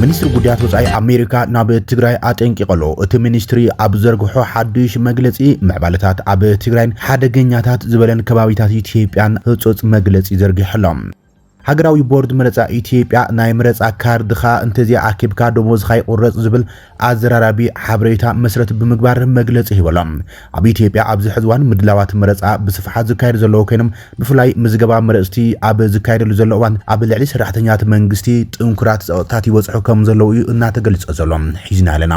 ሚኒስትሪ ጉዳያት ወፃኢ ኣሜሪካ ናብ ትግራይ ኣጠንቂቐሎ እቲ ሚኒስትሪ ኣብ ዘርግሖ ሓዱሽ መግለፂ ምዕባለታት ኣብ ትግራይን ሓደገኛታት ዝበለን ከባቢታት ኢትዮጵያን ህፁፅ መግለፂ ዘርጊሖሎም ሃገራዊ ቦርድ መረጻ ኢትዮጵያ ናይ መረጻ ካርድኻ እንተዘይኣኪብካ ደሞዝኻ ይቑረጽ ዝብል ኣዘራራቢ ሓበሬታ መስረት ብምግባር መግለጺ ሂቡ ኣሎ። ኣብ ኢትዮጵያ ኣብዚ ሕዚ እዋን ምድላዋት መረጻ ብስፍሓት ዝካየዱ ዘለዉ ኮይኖም ብፍላይ ምዝገባ መረጽቲ ኣብ ዝካየደሉ ዘሎ እዋን ኣብ ልዕሊ ሰራሕተኛታት መንግስቲ ጥንኩራት ጸቕጥታት ይበጽሑ ከምዘለዉ እዩ እናተገልጸ ዘሎ። ሒዝናዮ ኣለና።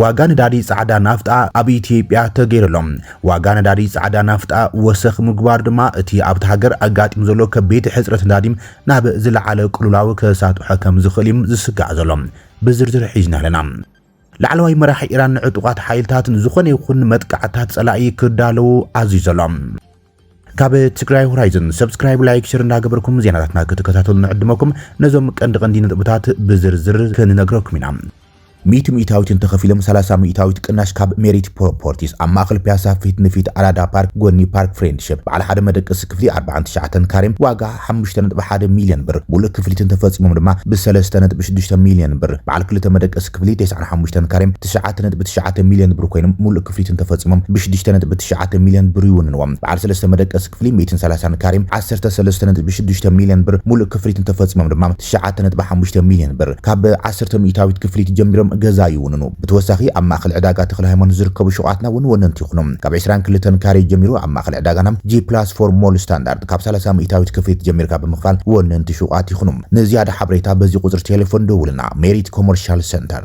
ዋጋ ነዳዲ ጻዕዳ ናፍጣ ኣብ ኢትዮጵያ ተገይሩ ኣሎ። ዋጋ ነዳዲ ጻዕዳ ናፍጣ ወሰኽ ምግባሩ ድማ እቲ ኣብታ ሃገር ኣጋጢሙ ዘሎ ከቢድ ሕጽረት ነዳዲ ናብ ዝለዓለ ቅልውላው ከሳጥሖ ከም ዝኽእል እዩ ዝስጋዕ ዘሎ። ብዝርዝር ሒዝና ኣለና። ላዕለዋይ መራሒ ኢራን ንዕጡቓት ሓይልታት ንዝኾነ ይኹን መጥቃዕትታት ጸላኢ ክዳለዉ ኣዚዙ ኣሎ። ካብ ትግራይ ሆራይዘን ሰብስክራይብ ላይክ ሽር እንዳገበርኩም ዜናታትና ክትከታተሉ ንዕድመኩም ነዞም ቀንዲ ቀንዲ ነጥብታት ብዝርዝር ክንነግረኩም ኢና ሚእቲ ሚእታዊት እንተኸፊሎም ሰላሳ ሚእታዊት ቅናሽ ካብ ሜሪት ፕሮፖርቲስ ኣብ ማእኸል ፒያሳ ፊት ንፊት ኣራዳ ፓርክ ጎኒ ፓርክ ፍሬንድሽፕ በዓል ሓደ መደቀሲ ክፍሊ ኣርባዓን ትሽዓተን ካሬ ዋጋ ሓሙሽተ ነጥቢ ሓደ ሚልዮን ብር፣ ሙሉእ ክፍሊት እንተፈፂሞም ድማ ብ ሰለስተ ነጥቢ ሽዱሽተ ሚልዮን ብር፣ በዓል ክልተ መደቀሲ ክፍሊ ተስዓን ሓሙሽተን ካሬም ትሽዓተ ነጥቢ ትሽዓተ ሚልዮን ብር ኮይኖም ሙሉእ ክፍሊት እንተፈፂሞም ብ ሽዱሽተ ነጥቢ ትሽዓተ ሚልዮን ብር ይውንንዎም። በዓል ሰለስተ መደቀሲ ክፍሊ ሚእትን ሰላሳን ካሬም ዓሰርተ ሰለስተ ነጥቢ ሽዱሽተ ሚልዮን ብር፣ ሙሉእ ክፍሊት እንተፈፂሞም ድማ። ትሽዓተ ነጥቢ ሓሙሽተ ሚልዮን ብር ካብ ዓሰርተ ሚኢታዊት ክፍሊት ጀሚሮም ገዛ ይውንኑ። ብተወሳኺ ኣብ ማእኸል ዕዳጋ ተኽለሃይማኖት ዝርከቡ ሹቓትና እውን ወነንቲ ይኹኑ። ካብ ዕስራን ክልተን ካሬ ጀሚሩ ኣብ ማእኸል ዕዳጋና ጂ ፕላስ ፎር ሞል ስታንዳርድ ካብ ሰላሳ ሚኢታዊት ክፍሊት ጀሚርካ ብምኽፋል ወነንቲ ሹቓት ይኹኑ። ንዝያዳ ሓበሬታ በዚ ቁፅሪ ቴሌፎን ደውልና። ሜሪት ኮመርሻል ሰንተር።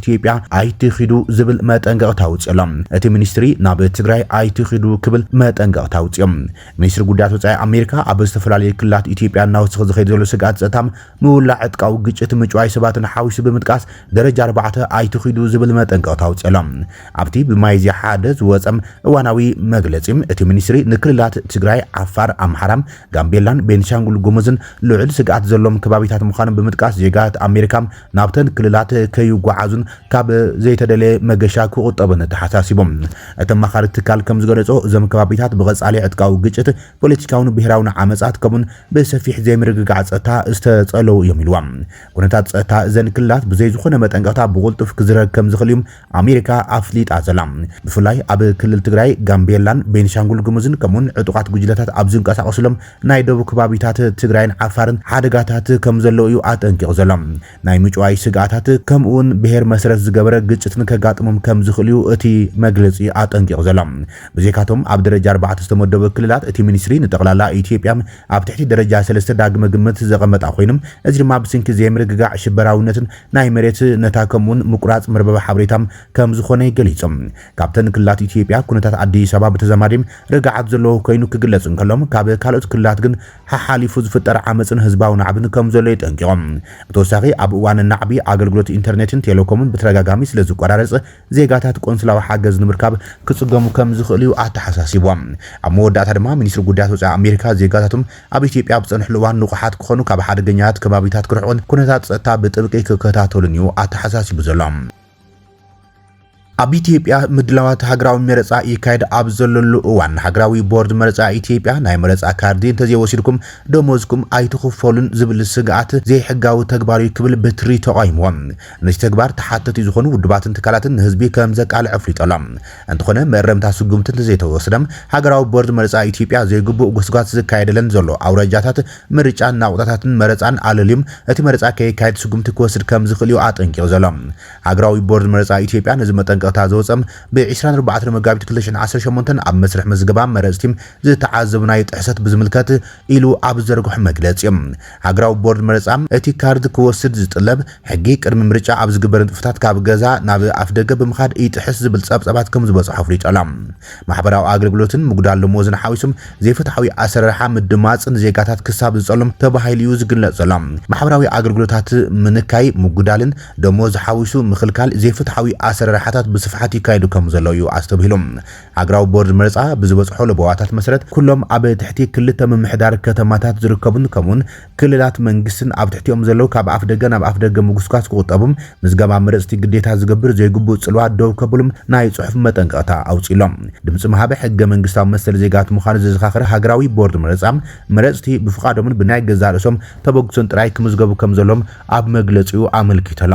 ኢትዮጵያ ኣይትኺዱ ዝብል መጠንቀቕታ ኣውጺኦሎም። እቲ ሚኒስትሪ ናብ ትግራይ ኣይትኺዱ ክብል መጠንቀቕታ ኣውጺኦም። ሚኒስትሪ ጉዳያት ወጻኢ ኣሜሪካ ኣብ ዝተፈላለዩ ክልላት ኢትዮጵያ እናወሰኸ ዝኸይድ ዘሎ ስግኣት ጸጥታ፣ ምውላዕ ዕጥቃዊ ግጭት፣ ምጭዋይ ሰባትን ሓዊሱ ብምጥቃስ ደረጃ ኣርባዕተ ኣይትኺዱ ዝብል መጠንቀቕታ ኣውጺኦሎም። ኣብቲ ብሚያዝያ ሓደ ዝወጸ እዋናዊ መግለጺ እቲ ሚኒስትሪ ንክልላት ትግራይ፣ ዓፋር፣ ኣምሓራ፣ ጋምቤላን ቤንሻንጉል ጉሙዝን ልዑል ስግኣት ዘለዎም ከባቢታት ምዃኖም ብምጥቃስ ዜጋታት ኣሜሪካ ናብተን ክልላት ከይጓዓዙን ካብ ዘይተደለየ መገሻ ክቑጠቡን ተሓሳሲቦም። እቲ ኣማኻሪ ትካል ከምዝገለፆ እዞም ከባቢታት ብቐፃሊ ዕጥቃዊ ግጭት፣ ፖለቲካውን ብሄራውን ዓመፃት ከምኡን ብሰፊሕ ዘይምርግጋዕ ፀጥታ ዝተፀለዉ እዮም ኢልዋ። ኩነታት ፀጥታ እዘን ክልላት ብዘይዝኾነ መጠንቀቕታ ብቑልጡፍ ክዝረግ ከምዝኽእል እዩ ኣሜሪካ ኣፍሊጣ ዘላ፣ ብፍላይ ኣብ ክልል ትግራይ፣ ጋምቤላን ቤንሻንጉል ጉሙዝን ከምኡ'ውን ዕጡቓት ጉጅለታት ኣብ ዝንቀሳቐሱሎም ናይ ደቡብ ከባቢታት ትግራይን ዓፋርን ሓደጋታት ከምዘለዉ እዩ ኣጠንቂቑ ዘሎ። ናይ ምጭዋይ ስግኣታት ከምኡ'ውን ብሄር መሰረት ዝገበረ ግጭትን ከጋጥሞም ከምዝኽእል እዩ እቲ መግለጺ ኣጠንቂቑ ዘሎ። ብዘይካ'ቶም ኣብ ደረጃ ኣርባዕተ ዝተመደቡ ክልላት፣ እቲ ሚኒስትሪ ንጠቕላላ ኢትዮጵያ ኣብ ትሕቲ ደረጃ ሰለስተ ዳግመ ግምት ዘቐመጣ ኮይኑ፣ እዚ ድማ ብስንኪ ዘይምርግጋዕ፣ ሽበራዊነትን ናይ መሬት ነታ ከምኡውን ምቁራጽ መርበብ ሓበሬታ ከም ዝኾነ ገሊጾም። ካብተን ክልላት ኢትዮጵያ ኩነታት ኣዲስ ኣበባ ብተዛማዲ ርግዓት ዘለዎ ኮይኑ ክግለጽ እንከሎ ካብ ካልኦት ክልላት ግን ሓሓሊፉ ዝፍጠር ዓመጽን ህዝባዊ ናዕብን ከም ዘሎ የጠንቂቖም። ብተወሳኺ ኣብ እዋን ናዕቢ ኣገልግሎት ኢንተርኔትን ቴሌኮምን ብተደጋጋሚ ስለ ዝቆራረጽ ዜጋታት ቆንስላዊ ሓገዝ ንምርካብ ክጽገሙ ከም ዝኽእል'ዩ ኣተሓሳሲብዎም። ኣብ መወዳእታ ድማ ሚኒስትሪ ጉዳያት ወጻኢ ኣሜሪካ ዜጋታቶም ኣብ ኢትዮጵያ ኣብ ዝጸንሕሉ እዋን ንቑሓት ክኾኑ፣ ካብ ሓደገኛታት ከባቢታት ክርሕቑን ኩነታት ጸጥታ ብጥብቂ ክከታተሉን'ዩ ኣተሓሳሲቡ ዘሎ። ኣብ ኢትዮጵያ ምድላዋት ሃገራዊ መረጻ ይካየድ ኣብ ዘለሉ እዋን፣ ሃገራዊ ቦርድ መረጻ ኢትዮጵያ ናይ መረጻ ካርዲ እንተዘይወሲድኩም ደሞዝኩም ኣይትኽፈሉን ዝብል ስግኣት ዘይሕጋዊ ተግባር'ዩ ክብል ብትሪ ተቓዊምዎ። ነቲ ተግባር ተሓተቲ ዝኾኑ ውድባትን ትካላትን ንህዝቢ ከም ዘቃልዕ ኣፍሊጡ ኣሎ። እንተኾነ መእረምታ ስጉምቲ እንተዘይተወስደ ሃገራዊ ቦርድ መረጻ ኢትዮጵያ ዘይግቡእ ጎስጓስ ዝካየደለን ዘሎ ኣውራጃታት ምርጫን ናቑጣታትን መረጻን ኣለልዩም እቲ መረጻ ከየካይድ ስጉምቲ ክወስድ ከም ዝኽእል እዩ ኣጠንቂቑ ዘሎ። ሃገራዊ ቦርድ መረጻ ኢትዮጵያ ነዚ መጠንቀቕታ ዘውጸ ብ ዕስራን ኣርባዕተን መጋቢት ክልተ ሽሕን ዓሰርተ ሸሞንተን ኣብ መስርሕ ምዝገባ መረጽቲ ዝተዓዘብናዮ ጥሕሰት ብዝምልከት ኢሉ ኣብ ዝዘርግሖ መግለጺ እዩ። ሃገራዊ ቦርድ መረጻ፣ እቲ ካርድ ክወስድ ዝጥለብ ሕጊ ቅድሚ ምርጫ ኣብ ዝግበር ንጥፈታት ካብ ገዛ ናብ ኣፍደገ ብምኻድ ይጥሕስ ዝብል ጸብጻባት ከም ዝበጽሖ ኣፍሊጡ ኣሎ። ማሕበራዊ ኣገልግሎትን ምጉዳል ደሞዝን ሓዊሱ ዘይፍትሓዊ ኣሰራርሓ ምድማጽ ንዜጋታት ክሳብ ዝጸሎም ተባሂሉ'ዩ ዝግለጽ ዘሎ። ማሕበራዊ ኣገልግሎታት ምንካይ፣ ምጉዳልን ደሞዝ ሓዊሱ ምኽልካል ዘይፍትሓዊ ኣሰራርሓታት ብስፍሓት ይካየዱ ከም ዘለዉ'ዩ ኣስተብሂሉ። ሃገራዊ ቦርድ መረጻ ብዝበጽሖ ለበዋታት መሰረት ኩሎም ኣብ ትሕቲ ክልተ ምምሕዳር ከተማታት ዝርከቡን ከምኡውን ክልላት መንግስትን ኣብ ትሕቲኦም ዘለዉ ካብ ኣፍደገ ናብ ኣፍደገ ምጉስጓስ ክቑጠቡም ምዝገባ መረጽቲ ግዴታ ዝገብር ዘይግቡእ ጽልዋ ደው ከብሉም ናይ ጽሑፍ መጠንቀቕታ ኣውጺኡ ኣሎ። ድምጺ ምሃብ ሕገ መንግስታዊ መሰል ዜጋት ምዃኑ ዘዘኻኽር ሃገራዊ ቦርድ መረጻ መረጽቲ ብፍቓዶምን ብናይ ገዛእ ርእሶም ተበግሶን ጥራይ ክምዝገቡ ከምዘለዎም ኣብ መግለጺኡ ኣመልኪቱ ኣሎ።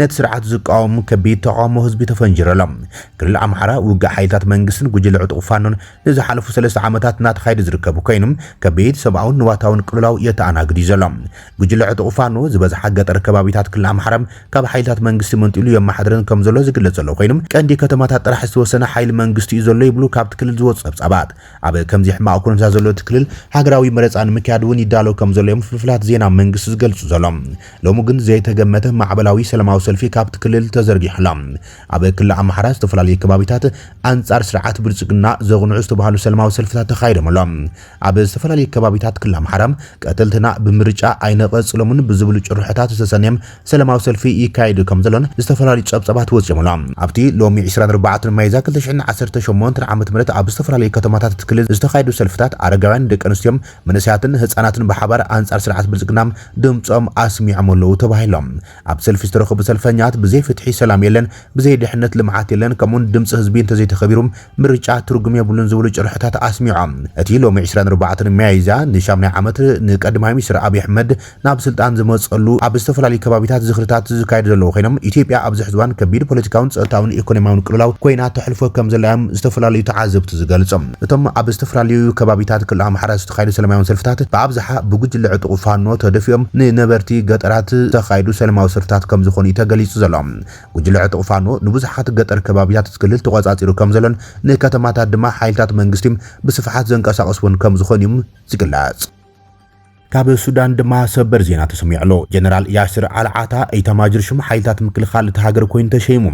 ነቲ ስርዓት ዝቃወሙ ከቢድ ተቓውሞ ህዝቢ ተፈንጂሩ ኣሎ። ክልል ኣምሓራ፣ ውግእ ሓይልታት መንግስትን ጉጅለ ዕጡቕ ፋኖን ንዝሓለፉ ሰለስተ ዓመታት እናተኻየደ ዝርከብ ኮይኑ፣ ከቢድ ሰብኣውን ንዋታውን ቅልውላው የተኣናግድ እዩ ዘሎ። ጉጅለ ዕጡቕ ፋኖ፣ ዝበዝሓ ገጠር ከባቢታት ክልል ኣምሓራ ካብ ሓይልታት መንግስቲ መንጢሉ የመሓድረን ከምዘሎ ዝግለጽ ዘሎ ኮይኑ፣ ቀንዲ ከተማታት ጥራሕ ዝተወሰነ ሓይሊ መንግስቲ እዩ ዘሎ ይብሉ ካብቲ ክልል ዝወጹ ጸብጻባት። ኣብ ከምዚ ሕማቕ ኩነታት ዘሎ እቲ ክልል፣ ሃገራዊ መረጻ ንምክያድ እውን ይዳሎ ከም ዘሎ'ዮም ፍልፍላት ዜና መንግስቲ ዝገልጹ ዘሎም። ሎሚ ግን ዘይተገመተ ማዕበላዊ ሰለማዊ ሰልፊ ካብቲ ክልል ተዘርጊሑ ኣሎ። ኣብ ክሊ ኣምሓራ ዝተፈላለዩ ከባቢታት ኣንጻር ስርዓት ብልጽግና ዘቕንዑ ዝተባህሉ ሰለማዊ ሰልፍታት ተኻይዶም ኣሎም። ኣብ ዝተፈላለዩ ከባቢታት ክሊ ኣምሓራ ቀተልትና ብምርጫ ኣይነቐጽሎምን ብዝብሉ ጭርሖታት ዝተሰነየም ሰለማዊ ሰልፊ ይካየድ ከምዘሎን ዝተፈላለዩ ጸብጻባት ወጺኦም ኣሎም። ኣብቲ ሎሚ ዕስራን ኣርባዕተን ሚያዝያ ክልተ ሽሕን ዓሰርተ ሸሞንተን ዓመተ ምህረት ኣብ ዝተፈላለዩ ከተማታት እቲ ክልል ዝተኻየዱ ሰልፍታት ኣረጋውያን፣ ደቂ ኣንስትዮ፣ መንእሰያትን ህጻናትን ብሓባር ኣንጻር ስርዓት ብልጽግና ድምጾም ኣስሚዖም ኣለው ተባሂሎም። ኣብቲ ሰልፊ ዝተረኸቡ ሰልፈኛት ብዘይ ፍትሒ ሰላም የለን፣ ብዘይ ድሕነት ልምዓት የለን ከምኡ'ውን ድምጺ ህዝቢ እንተዘይተኸቢሩ ምርጫ ትርጉም የብሉን ዝብሉ ጭርሖታት ኣስሚዖም። እቲ ሎሚ ዕስራን ኣርባዕተን ሚያዝያ ንሻምናይ ዓመት ንቀድማይ ሚኒስተር ኣብይ ኣሕመድ ናብ ስልጣን ዝመጸሉ ኣብ ዝተፈላለዩ ከባቢታት ዝኽርታት ዝካየዱ ዘለዉ ኮይኖም ኢትዮጵያ ኣብዚ ሕዚ እዋን ከቢድ ፖለቲካውን ጸጥታውን ኢኮኖሚያውን ቅልውላው ኮይና ተሕልፎ ከም ዘላ እዮም ዝተፈላለዩ ተዓዘብቲ ዝገልጹ። እቶም ኣብ ዝተፈላለዩ ከባቢታት ክልል ኣምሓራ ዝተኻየዱ ሰለማዊ ሰልፍታት ብኣብዝሓ ብጉጅለ ዕጡቕ ፋኖ ተደፊኦም ንነበርቲ ገጠራት ዝተኻየዱ ሰለማዊ ሰልፍታት ከም ዝኾኑ እዩ ተገሊጹ ዘሎ። ጉጅለ ዕጡቕ ፋኖ ንብዙሓት ገጠር ከባቢታት እቲ ክልል ተቖጻጺሩ ከም ዘሎን ንከተማታት ድማ ሓይልታት መንግስቲ ብስፍሓት ዘንቀሳቕስወን ከም ዝኾኑ እዩ ዝግለጽ። ካብ ሱዳን ድማ ሰበር ዜና ተሰሚዑ ኣሎ። ጀነራል ያስር ኣልዓታ ኢታማጆር ሹም ሓይልታት ምክልኻል እታ ሃገር ኮይኑ ተሸይሙ።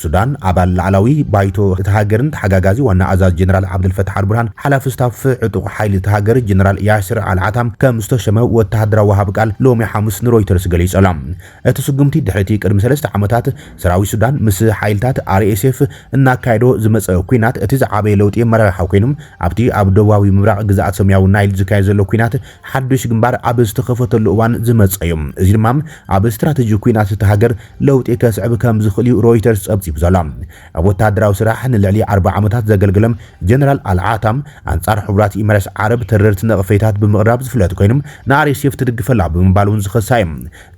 ሱዳን ኣባል ላዕላዊ ባይቶ እታ ሃገርን ተሓጋጋዚ ዋና ኣዛዚ ጀነራል ዓብደልፈታሕ ኣልቡርሃን ሓላፊ ስታፍ ዕጡቕ ሓይሊ እታ ሃገር ጀነራል ያስር ኣልዓታ ከም ዝተሸመ ወተሃደራዊ ወሃቢ ቃል ሎሚ ሓሙስ ንሮይተርስ ገሊጹ ኣሎ። እቲ ስጉምቲ ድሕሪ'ቲ ቅድሚ ሰለስተ ዓመታት ሰራዊት ሱዳን ምስ ሓይልታት RSF እናካየዶ ዝመጸ ኲናት እቲ ዝዓበየ ለውጢ ኣመራርሓ ኮይኑ፣ ኣብቲ ኣብ ደቡባዊ ምብራቕ ግዝኣት ሰማያዊ ናይል ዝካየድ ዘሎ ኲናት ሓድሽ ግንባር ኣብ ዝተኸፈተሉ እዋን ዝመጸ'ዩ። እዚ ድማ ኣብ ስትራተጂ ኲናት እታ ሃገር ለውጢ ከስዕብ ከምዝኽእል'ዩ ሮይተርስ ጸብጺቡ ዘሎ። ኣብ ወተሃደራዊ ስራሕ ንልዕሊ ኣርብዓ ዓመታት ዘገልገለ ጀነራል ኣል-ዓታም፣ ኣንጻር ሕቡራት ኢማራት ዓረብ ተረርቲ ነቕፌታት ብምቕራብ ዝፍለጥ ኮይኑ፣ ንRSF ትድግፍ ኣላ ብምባል'ውን ዝኸሳ'ዩ።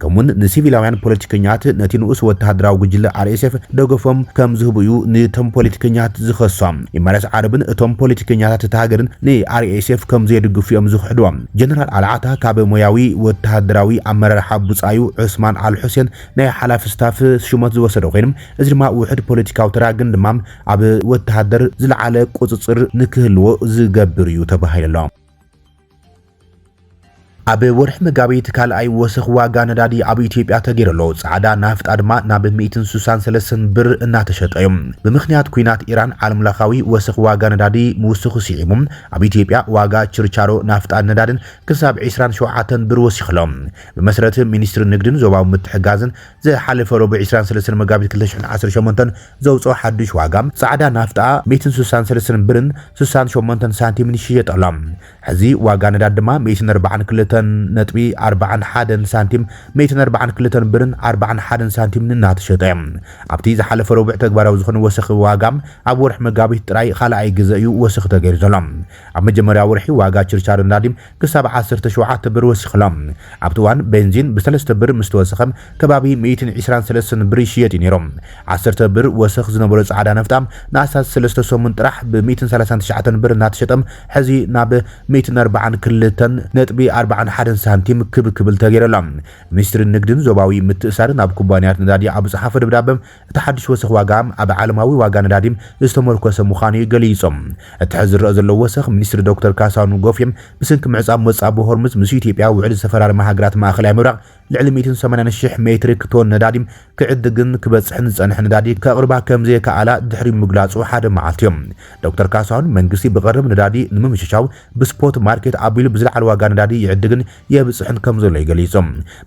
ከምኡ'ውን ንሲቪላውያን ፖለቲከኛት ነቲ ንኡስ ወተሃደራዊ ጉጅለ RSF ደገፎም ከም ዝህቡ'ዩ ንቶም ፖለቲከኛት ዝኸሶም። ኢማራት ዓረብን እቶም ፖለቲከኛታት እታ ሃገርን ንRSF ከም ዘይድግፉ'ዮም ዝኽሕድዎ። ጀነራል ኣልዓታ ካብ ሞያዊ ወተሃደራዊ ኣመራርሓ ብጻዩ ዑስማን ኣልሑሴን ናይ ሓላፊ ስታፍ ሹመት ዝወሰደ ኮይኑ፣ እዚ ድማ ውሑድ ፖለቲካዊ ተራ ግን ድማ ኣብ ወተሃደር ዝለዓለ ቁጽጽር ንክህልዎ ዝገብር'ዩ ተባሂሉ'ሎ። ኣብ ወርሒ መጋቢት ካልኣይ ወሰኽ ዋጋ ነዳዲ ኣብ ኢትዮጵያ ተገይሩ ኣሎ። ጻዕዳ ናፍጣ ድማ ናብ ሚእትን ስሳን ሰለስተን ብር እናተሸጠ እዩ። ብምኽንያት ኲናት ኢራን ዓለምለኻዊ ወሰኽ ዋጋ ነዳዲ ምውስኹ ስዒቡ ኣብ ኢትዮጵያ ዋጋ ችርቻሮ ናፍጣን ነዳድን ክሳብ ዕስራን ሸውዓተን ብር ወሲኹ ኣሎ። ብመሰረት ሚኒስትሪ ንግድን ዞባዊ ምትሕግጋዝን ዝሓለፈ ረቡዕ ዕስራን ሰለስተን መጋቢት ክልተ ሽሕን ዓሰርተ ሸሞንተን ዘውጽኦ ሓድሽ ዋጋ ጻዕዳ ናፍጣ ሚእትን ስሳን ሰለስተን ብርን ስሳን ሸሞንተን ሳንቲምን ይሽየጥ ኣሎ። ሕዚ ዋጋ ነዳዲ ድማ ሚእትን ኣርባዓን ክልተን ነጥቢ ኣርባዓን ሓደን ሳንቲም፣ ሚእትን ኣርባዓን ክልተን ብርን ኣርባዓን ሓደን ሳንቲምን እናተሸጠ እዮ። ኣብቲ ዝሓለፈ ረቡዕ ተግባራዊ ዝኾነ ወሰኺ ዋጋ ኣብ ወርሒ መጋቢት ጥራይ ኻልኣይ ግዘ እዩ ወሰኺ ተገይሩ ዘሎ። ኣብ መጀመርያ ወርሒ ዋጋ ችርቻሮ ነዳዲ ክሳብ ዓሰርተ ሸውዓተ ብር ወሲኹ ኣሎ። ኣብቲ እዋን ቤንዚን ብሰለስተ ብር ምስተወሰኸ ከባቢ ሚእትን ዕስራን ሰለስተን ብር ይሽየጥ እዩ ነይሩ። ዓሰርተ ብር ወሰኽ ዝነበሮ ፃዕዳ ናፍጣ ንኣስታት ሰለስተ ሰሙን ጥራሕ ብሚእትን ሰላሳን ትሽዓተን ብር እናተሸጠ ሕዚ ናብ ሚእትን ኣርባዓን ክልተን ነጥቢ ኣርባዓን ሓደን ሳንቲም ክብ ክብል ተገይሩ ኣሎ። ሚኒስትሪ ንግድን ዞባዊ ምትእስሳርን ናብ ኩባንያታት ነዳዲ ኣብ ዝፀሓፎ ደብዳበ፣ እቲ ሓድሽ ወሰኽ ዋጋ ኣብ ዓለማዊ ዋጋ ነዳዲ ዝተሞርኮሰ ምዃኑ እዩ ገሊፁ። እቲ ሕዚ ዝረኣ ዘሎ ወሰኽ ሚኒስትሪ ዶክተር ካሳሁን ጎፌ ብስንኪ ምዕፃው መፃብቦ ሆርሙዝ ምስ ኢትዮጵያ ውዕል ዝተፈራረማ ሃገራት ማእኸላይ ምብራቕ ልዕሊ ሚእትን ሰማንያን ሽሕ ሜትሪክ ቶን ነዳዲ ክዕድግን ክበጽሕን ዝጸንሐ ነዳዲ ከቕርባ ከምዘይከኣላ ድሕሪ ምግላጹ ሓደ መዓልቲዮ። ዶክተር ካሳሁን፣ መንግስቲ ብቐረብ ነዳዲ ንምምችቻው ብስፖት ማርኬት ኣቢሉ ብዝለዓለ ዋጋ ነዳዲ ይዕድግን የብጽሕን ከምዘሎ'ዩ ገሊጹ።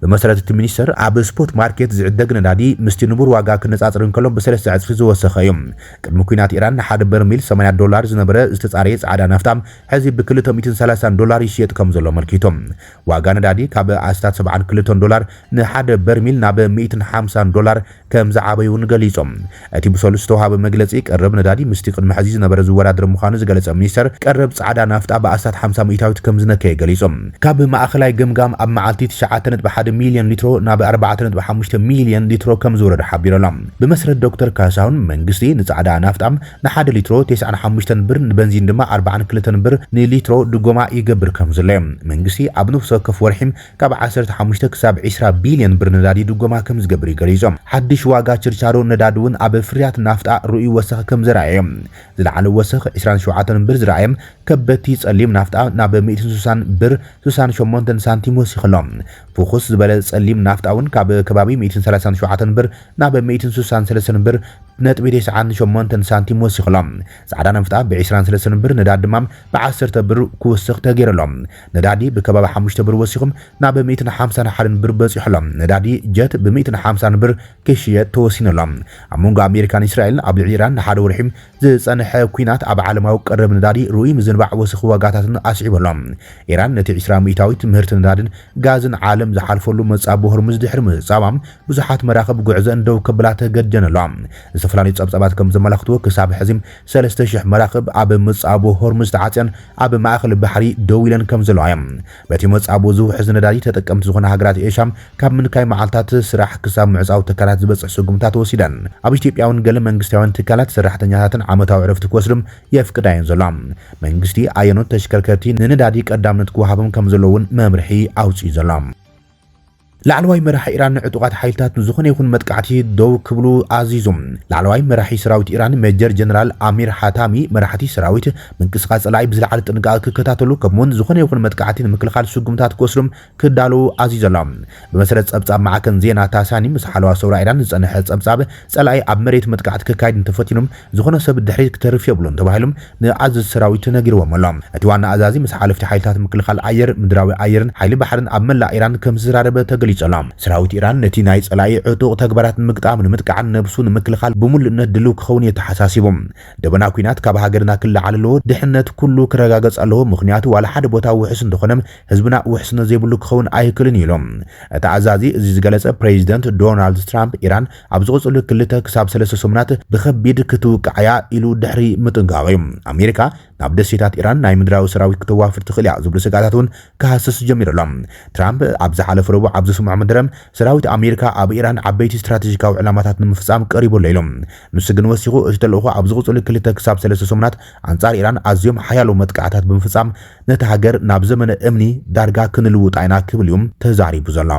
ብመሰረት እቲ ሚኒስተር፣ ኣብ ስፖት ማርኬት ዝዕደግ ነዳዲ ምስቲ ንቡር ዋጋ ክነጻጽር እንከሎ ብሰለስተ ዕጽፊ ዝወሰኸ እዩ። ቅድሚ ኲናት ኢራን ንሓደ በርሚል ሰማንያ ዶላር ዝነበረ ዝተጻረየ ጻዕዳ ናፍታ ሕዚ ብክልተ ሚእትን ሰላሳን ዶላር ይሽየጥ ከምዘሎ ኣመልኪቱ። ዋጋ ነዳዲ ካብ ኣስታት ሰብዓን ክልተን ዶላር ንሓደ በርሚል ናብ ሚእትን ሓምሳን ዶላር ከምዝዓበዩ'ውን ገሊጾም። እቲ ብሰሉስ ዝተውሃበ መግለጺ፣ ቀረብ ነዳዲ ምስቲ ቅድሚ ሕዚ ዝነበረ ዝወዳደር ምዃኑ ዝገለጸ ሚኒስተር፣ ቀረብ ጻዕዳ ናፍጣ ብኣስታት ሓምሳ ሚእታዊት ከምዝነከየ ገሊጹ። ካብ ማእከላይ ገምጋም ኣብ መዓልቲ ትሽዓተ ነጥቢ ሓደ ሚልዮን ሊትሮ ናብ ኣርባዕተ ነጥቢ ሓሙሽተ ሚልዮን ሊትሮ ከምዝወረደ ሓቢሩ ኣሎ። ብመስረት ዶክተር ካሳሁን፣ መንግስቲ ንጻዕዳ ናፍጣ ንሓደ ሊትሮ ቴስዓን ሓሙሽተን ብር ንበንዚን ድማ ኣርባዓን ክልተን ብር ንሊትሮ ድጎማ ይገብር ከምዘሎ ዮም። መንግስቲ ኣብ ነፍሲ ወከፍ ወርሒ ካብ ዓሰርተ ሓሙሽተ ክሳብ ዕስራ ቢልየን ብር ነዳዲ ድጎማ ከምዝገብር ዩ ገሊፁ። ሓድሽ ዋጋ ችርቻሮ ነዳዲ ውን ኣብ ፍርያት ናፍጣ ርኡይ ወሰኽ ከምዘርኣየ ዮም። ዝለዓለ ወሰኽ ዕስራን ሸውዓተን ብር ዝረኣየም ከበድቲ ፀሊም ናፍጣ ናብ ሚእትን ስሳን ብር ስሳን ሸሞንተን ሳንቲም ወሲኽሎ። ፍኹስ ዝበለ ፀሊም ናፍጣ ውን ካብ ከባቢ ሚእትን ሰላሳን ሸውዓተን ብር ናብ ሚእትን ሱሳን ሰለስተን ብር ነጥቢ ቴስዓን ሸሞንተን ሳንቲም ወሲኹ ኣሎ። ጻዕዳ ናፍጣ ብዒስራን ሰለስተን ብር ነዳዲ ድማ ብዓሰርተ ብር ክውስኽ ተገይሩ ኣሎ። ነዳዲ ብከባቢ ሓሙሽተ ብር ወሲኹ ናብ ሚእትን ሓምሳን ሓደን ብር በጺሑ ኣሎ። ነዳዲ ጀት ብሚእትን ሓምሳን ብር ክሽየጥ ተወሲኑ ኣሎ። ኣብ መንጎ ኣሜሪካን እስራኤልን ኣብ ልዕሊ ኢራን ንሓደ ወርሒ ዝጸንሐ ኲናት ኣብ ዓለማዊ ቀረብ ነዳዲ ርኡይ ምዝንባዕ ወሰኽ ዋጋታትን ኣስዒቡ ኣሎ። ኢራን ነቲ ዕስራ ሚእታዊት ምህርቲ ነዳድን ጋዝን ዓለም ዝሓልፈሉ መጻብቦ ሆርሙዝ ድሕሪ ምዕጻዋ፣ ብዙሓት መራኽብ ጉዕዘኣን ደው ከብላ ተገዲደን ኣለዋ። ዝተፈላለዩ ጸብጻባት ከም ዘመላኽትዎ፣ ክሳብ ሕዚ ሰለስተ ሽሕ መራኽብ ኣብ መጻብቦ ሆርሙዝ ተዓጽየን ኣብ ማእከል ባሕሪ ደው ኢለን ከም ዘለዋ እየን። በቲ መጻብኡ ዝውሕዝ ነዳዲ ተጠቀምቲ ዝኾና ሃገራት ኤሻ ካብ ምንካይ መዓልታት ስራሕ ክሳብ ምዕጻው ትካላት ዝበጽሕ ስጉምታት ወሲደን። ኣብ ኢትዮጵያ'ውን ገለ መንግስታውያን ትካላት ሰራሕተኛታተን ዓመታዊ ዕረፍቲ ክወስዱ የፍቅዳ እየን ዘለዋ። መንግስቲ ኣየኖት ተሽከርከርቲ ንነዳዲ ቀዳምነት ክወሃቦም ከምዘለዎ'ውን መምርሒ ኣውጺኡ ዘሎ። ላዕለዋይ መራሒ ኢራን ንዕጡቓት ሓይልታት ንዝኾነ ይኹን መጥቃዕቲ ደው ክብሉ ኣዚዙ። ላዕለዋይ መራሒ ሰራዊት ኢራን ሜጀር ጀነራል ኣሚር ሓታሚ፣ መራሕቲ ሰራዊት ምንቅስቓስ ጸላኢ ብዝለዓለ ጥንቃቐ ክከታተሉ ከምኡ'ውን ዝኾነ ይኹን መጥቃዕቲ ንምክልኻል ስጉምታት ክወስዱ ክዳለዉ ኣዚዙ ኣሎ። ብመሰረት ጸብጻብ ማዕከን ዜና ታሳኒም፣ ምስ ሓለዋ ሰውራ ኢራን ዝጸንሐ ጸብጻብ፣ ጸላኢ ኣብ መሬት መጥቃዕቲ ከካይድ እንተፈቲኑም ዝኾነ ሰብ ድሕሪት ክተርፍ የብሉን ተባሂሉም ንኣዘዝቲ ሰራዊት ተነጊርዎም ኣሎ። እቲ ዋና ኣዛዚ ምስ ሓለፍቲ ሓይልታት ምክልኻል ኣየር፣ ምድራዊ ኣየርን ሓይሊ ባሕርን ኣብ መላእ ኢራን ከምዝተዛረበ ተገሊጹ ኣሎ። ሰራዊት ኢራን ነቲ ናይ ጸላኢ ዕጡቕ ተግባራት ንምግጣም ንምጥቃዕን ነብሱ ንምክልኻል ብምሉእነት ድልው ክኸውን የተሓሳሲቡ። ደበና ኲናት ካብ ሃገርና ክለዓል ኣለዎ፣ ድሕነት ኩሉ ክረጋገጽ ኣለዎ፣ ምኽንያቱ ዋላ ሓደ ቦታ ውሑስ እንተኾነ ህዝብና ውሕስነት ዘይብሉ ክኸውን ኣይክልን እዩ ኢሎም። እቲ ኣዛዚ እዚ ዝገለጸ ፕሬዚደንት ዶናልድ ትራምፕ ኢራን ኣብ ዝቕፅሉ ክልተ ክሳብ ሰለስተ ሰሙናት ብኸቢድ ክትውቃዕ እያ ኢሉ ድሕሪ ምጥንቃቑ እዩ። ኣሜሪካ ናብ ደሴታት ኢራን ናይ ምድራዊ ሰራዊት ክተዋፍር ትኽእል እያ ዝብሉ ስግኣታት እውን ክሃስስ ጀሚሩ ኣሎ። ትራምፕ ኣብ ዝሓለፈ ረቡዕ ኣብ ዘስምዖ መደረ ሰራዊት ኣሜሪካ ኣብ ኢራን ዓበይቲ ስትራቴጂካዊ ዕላማታት ንምፍፃም ቀሪቡ ኣሎ ኢሉ። ንሱ ግን ወሲኹ እቲ ተልእኾ ኣብ ዝቕፅሉ ክልተ ክሳብ ሰለስተ ሰሙናት ኣንጻር ኢራን ኣዝዮም ሓያሎ መጥቃዕታት ብምፍጻም ነታ ሃገር ናብ ዘመነ እምኒ ዳርጋ ክንልውጣ ኢና ክብል እዩ ተዛሪቡ ዘሎ።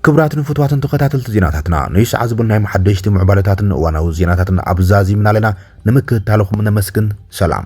ክብራት ንፍትዋትን ተኸታተልቲ ዜናታትና ንይ ሰዓት ዝብናይ መሓደሽቲ ምዕባለታትን እዋናዊ ዜናታትን ኣብዛዚምና ኣለና ንምክትታልኹም ነመስግን ሰላም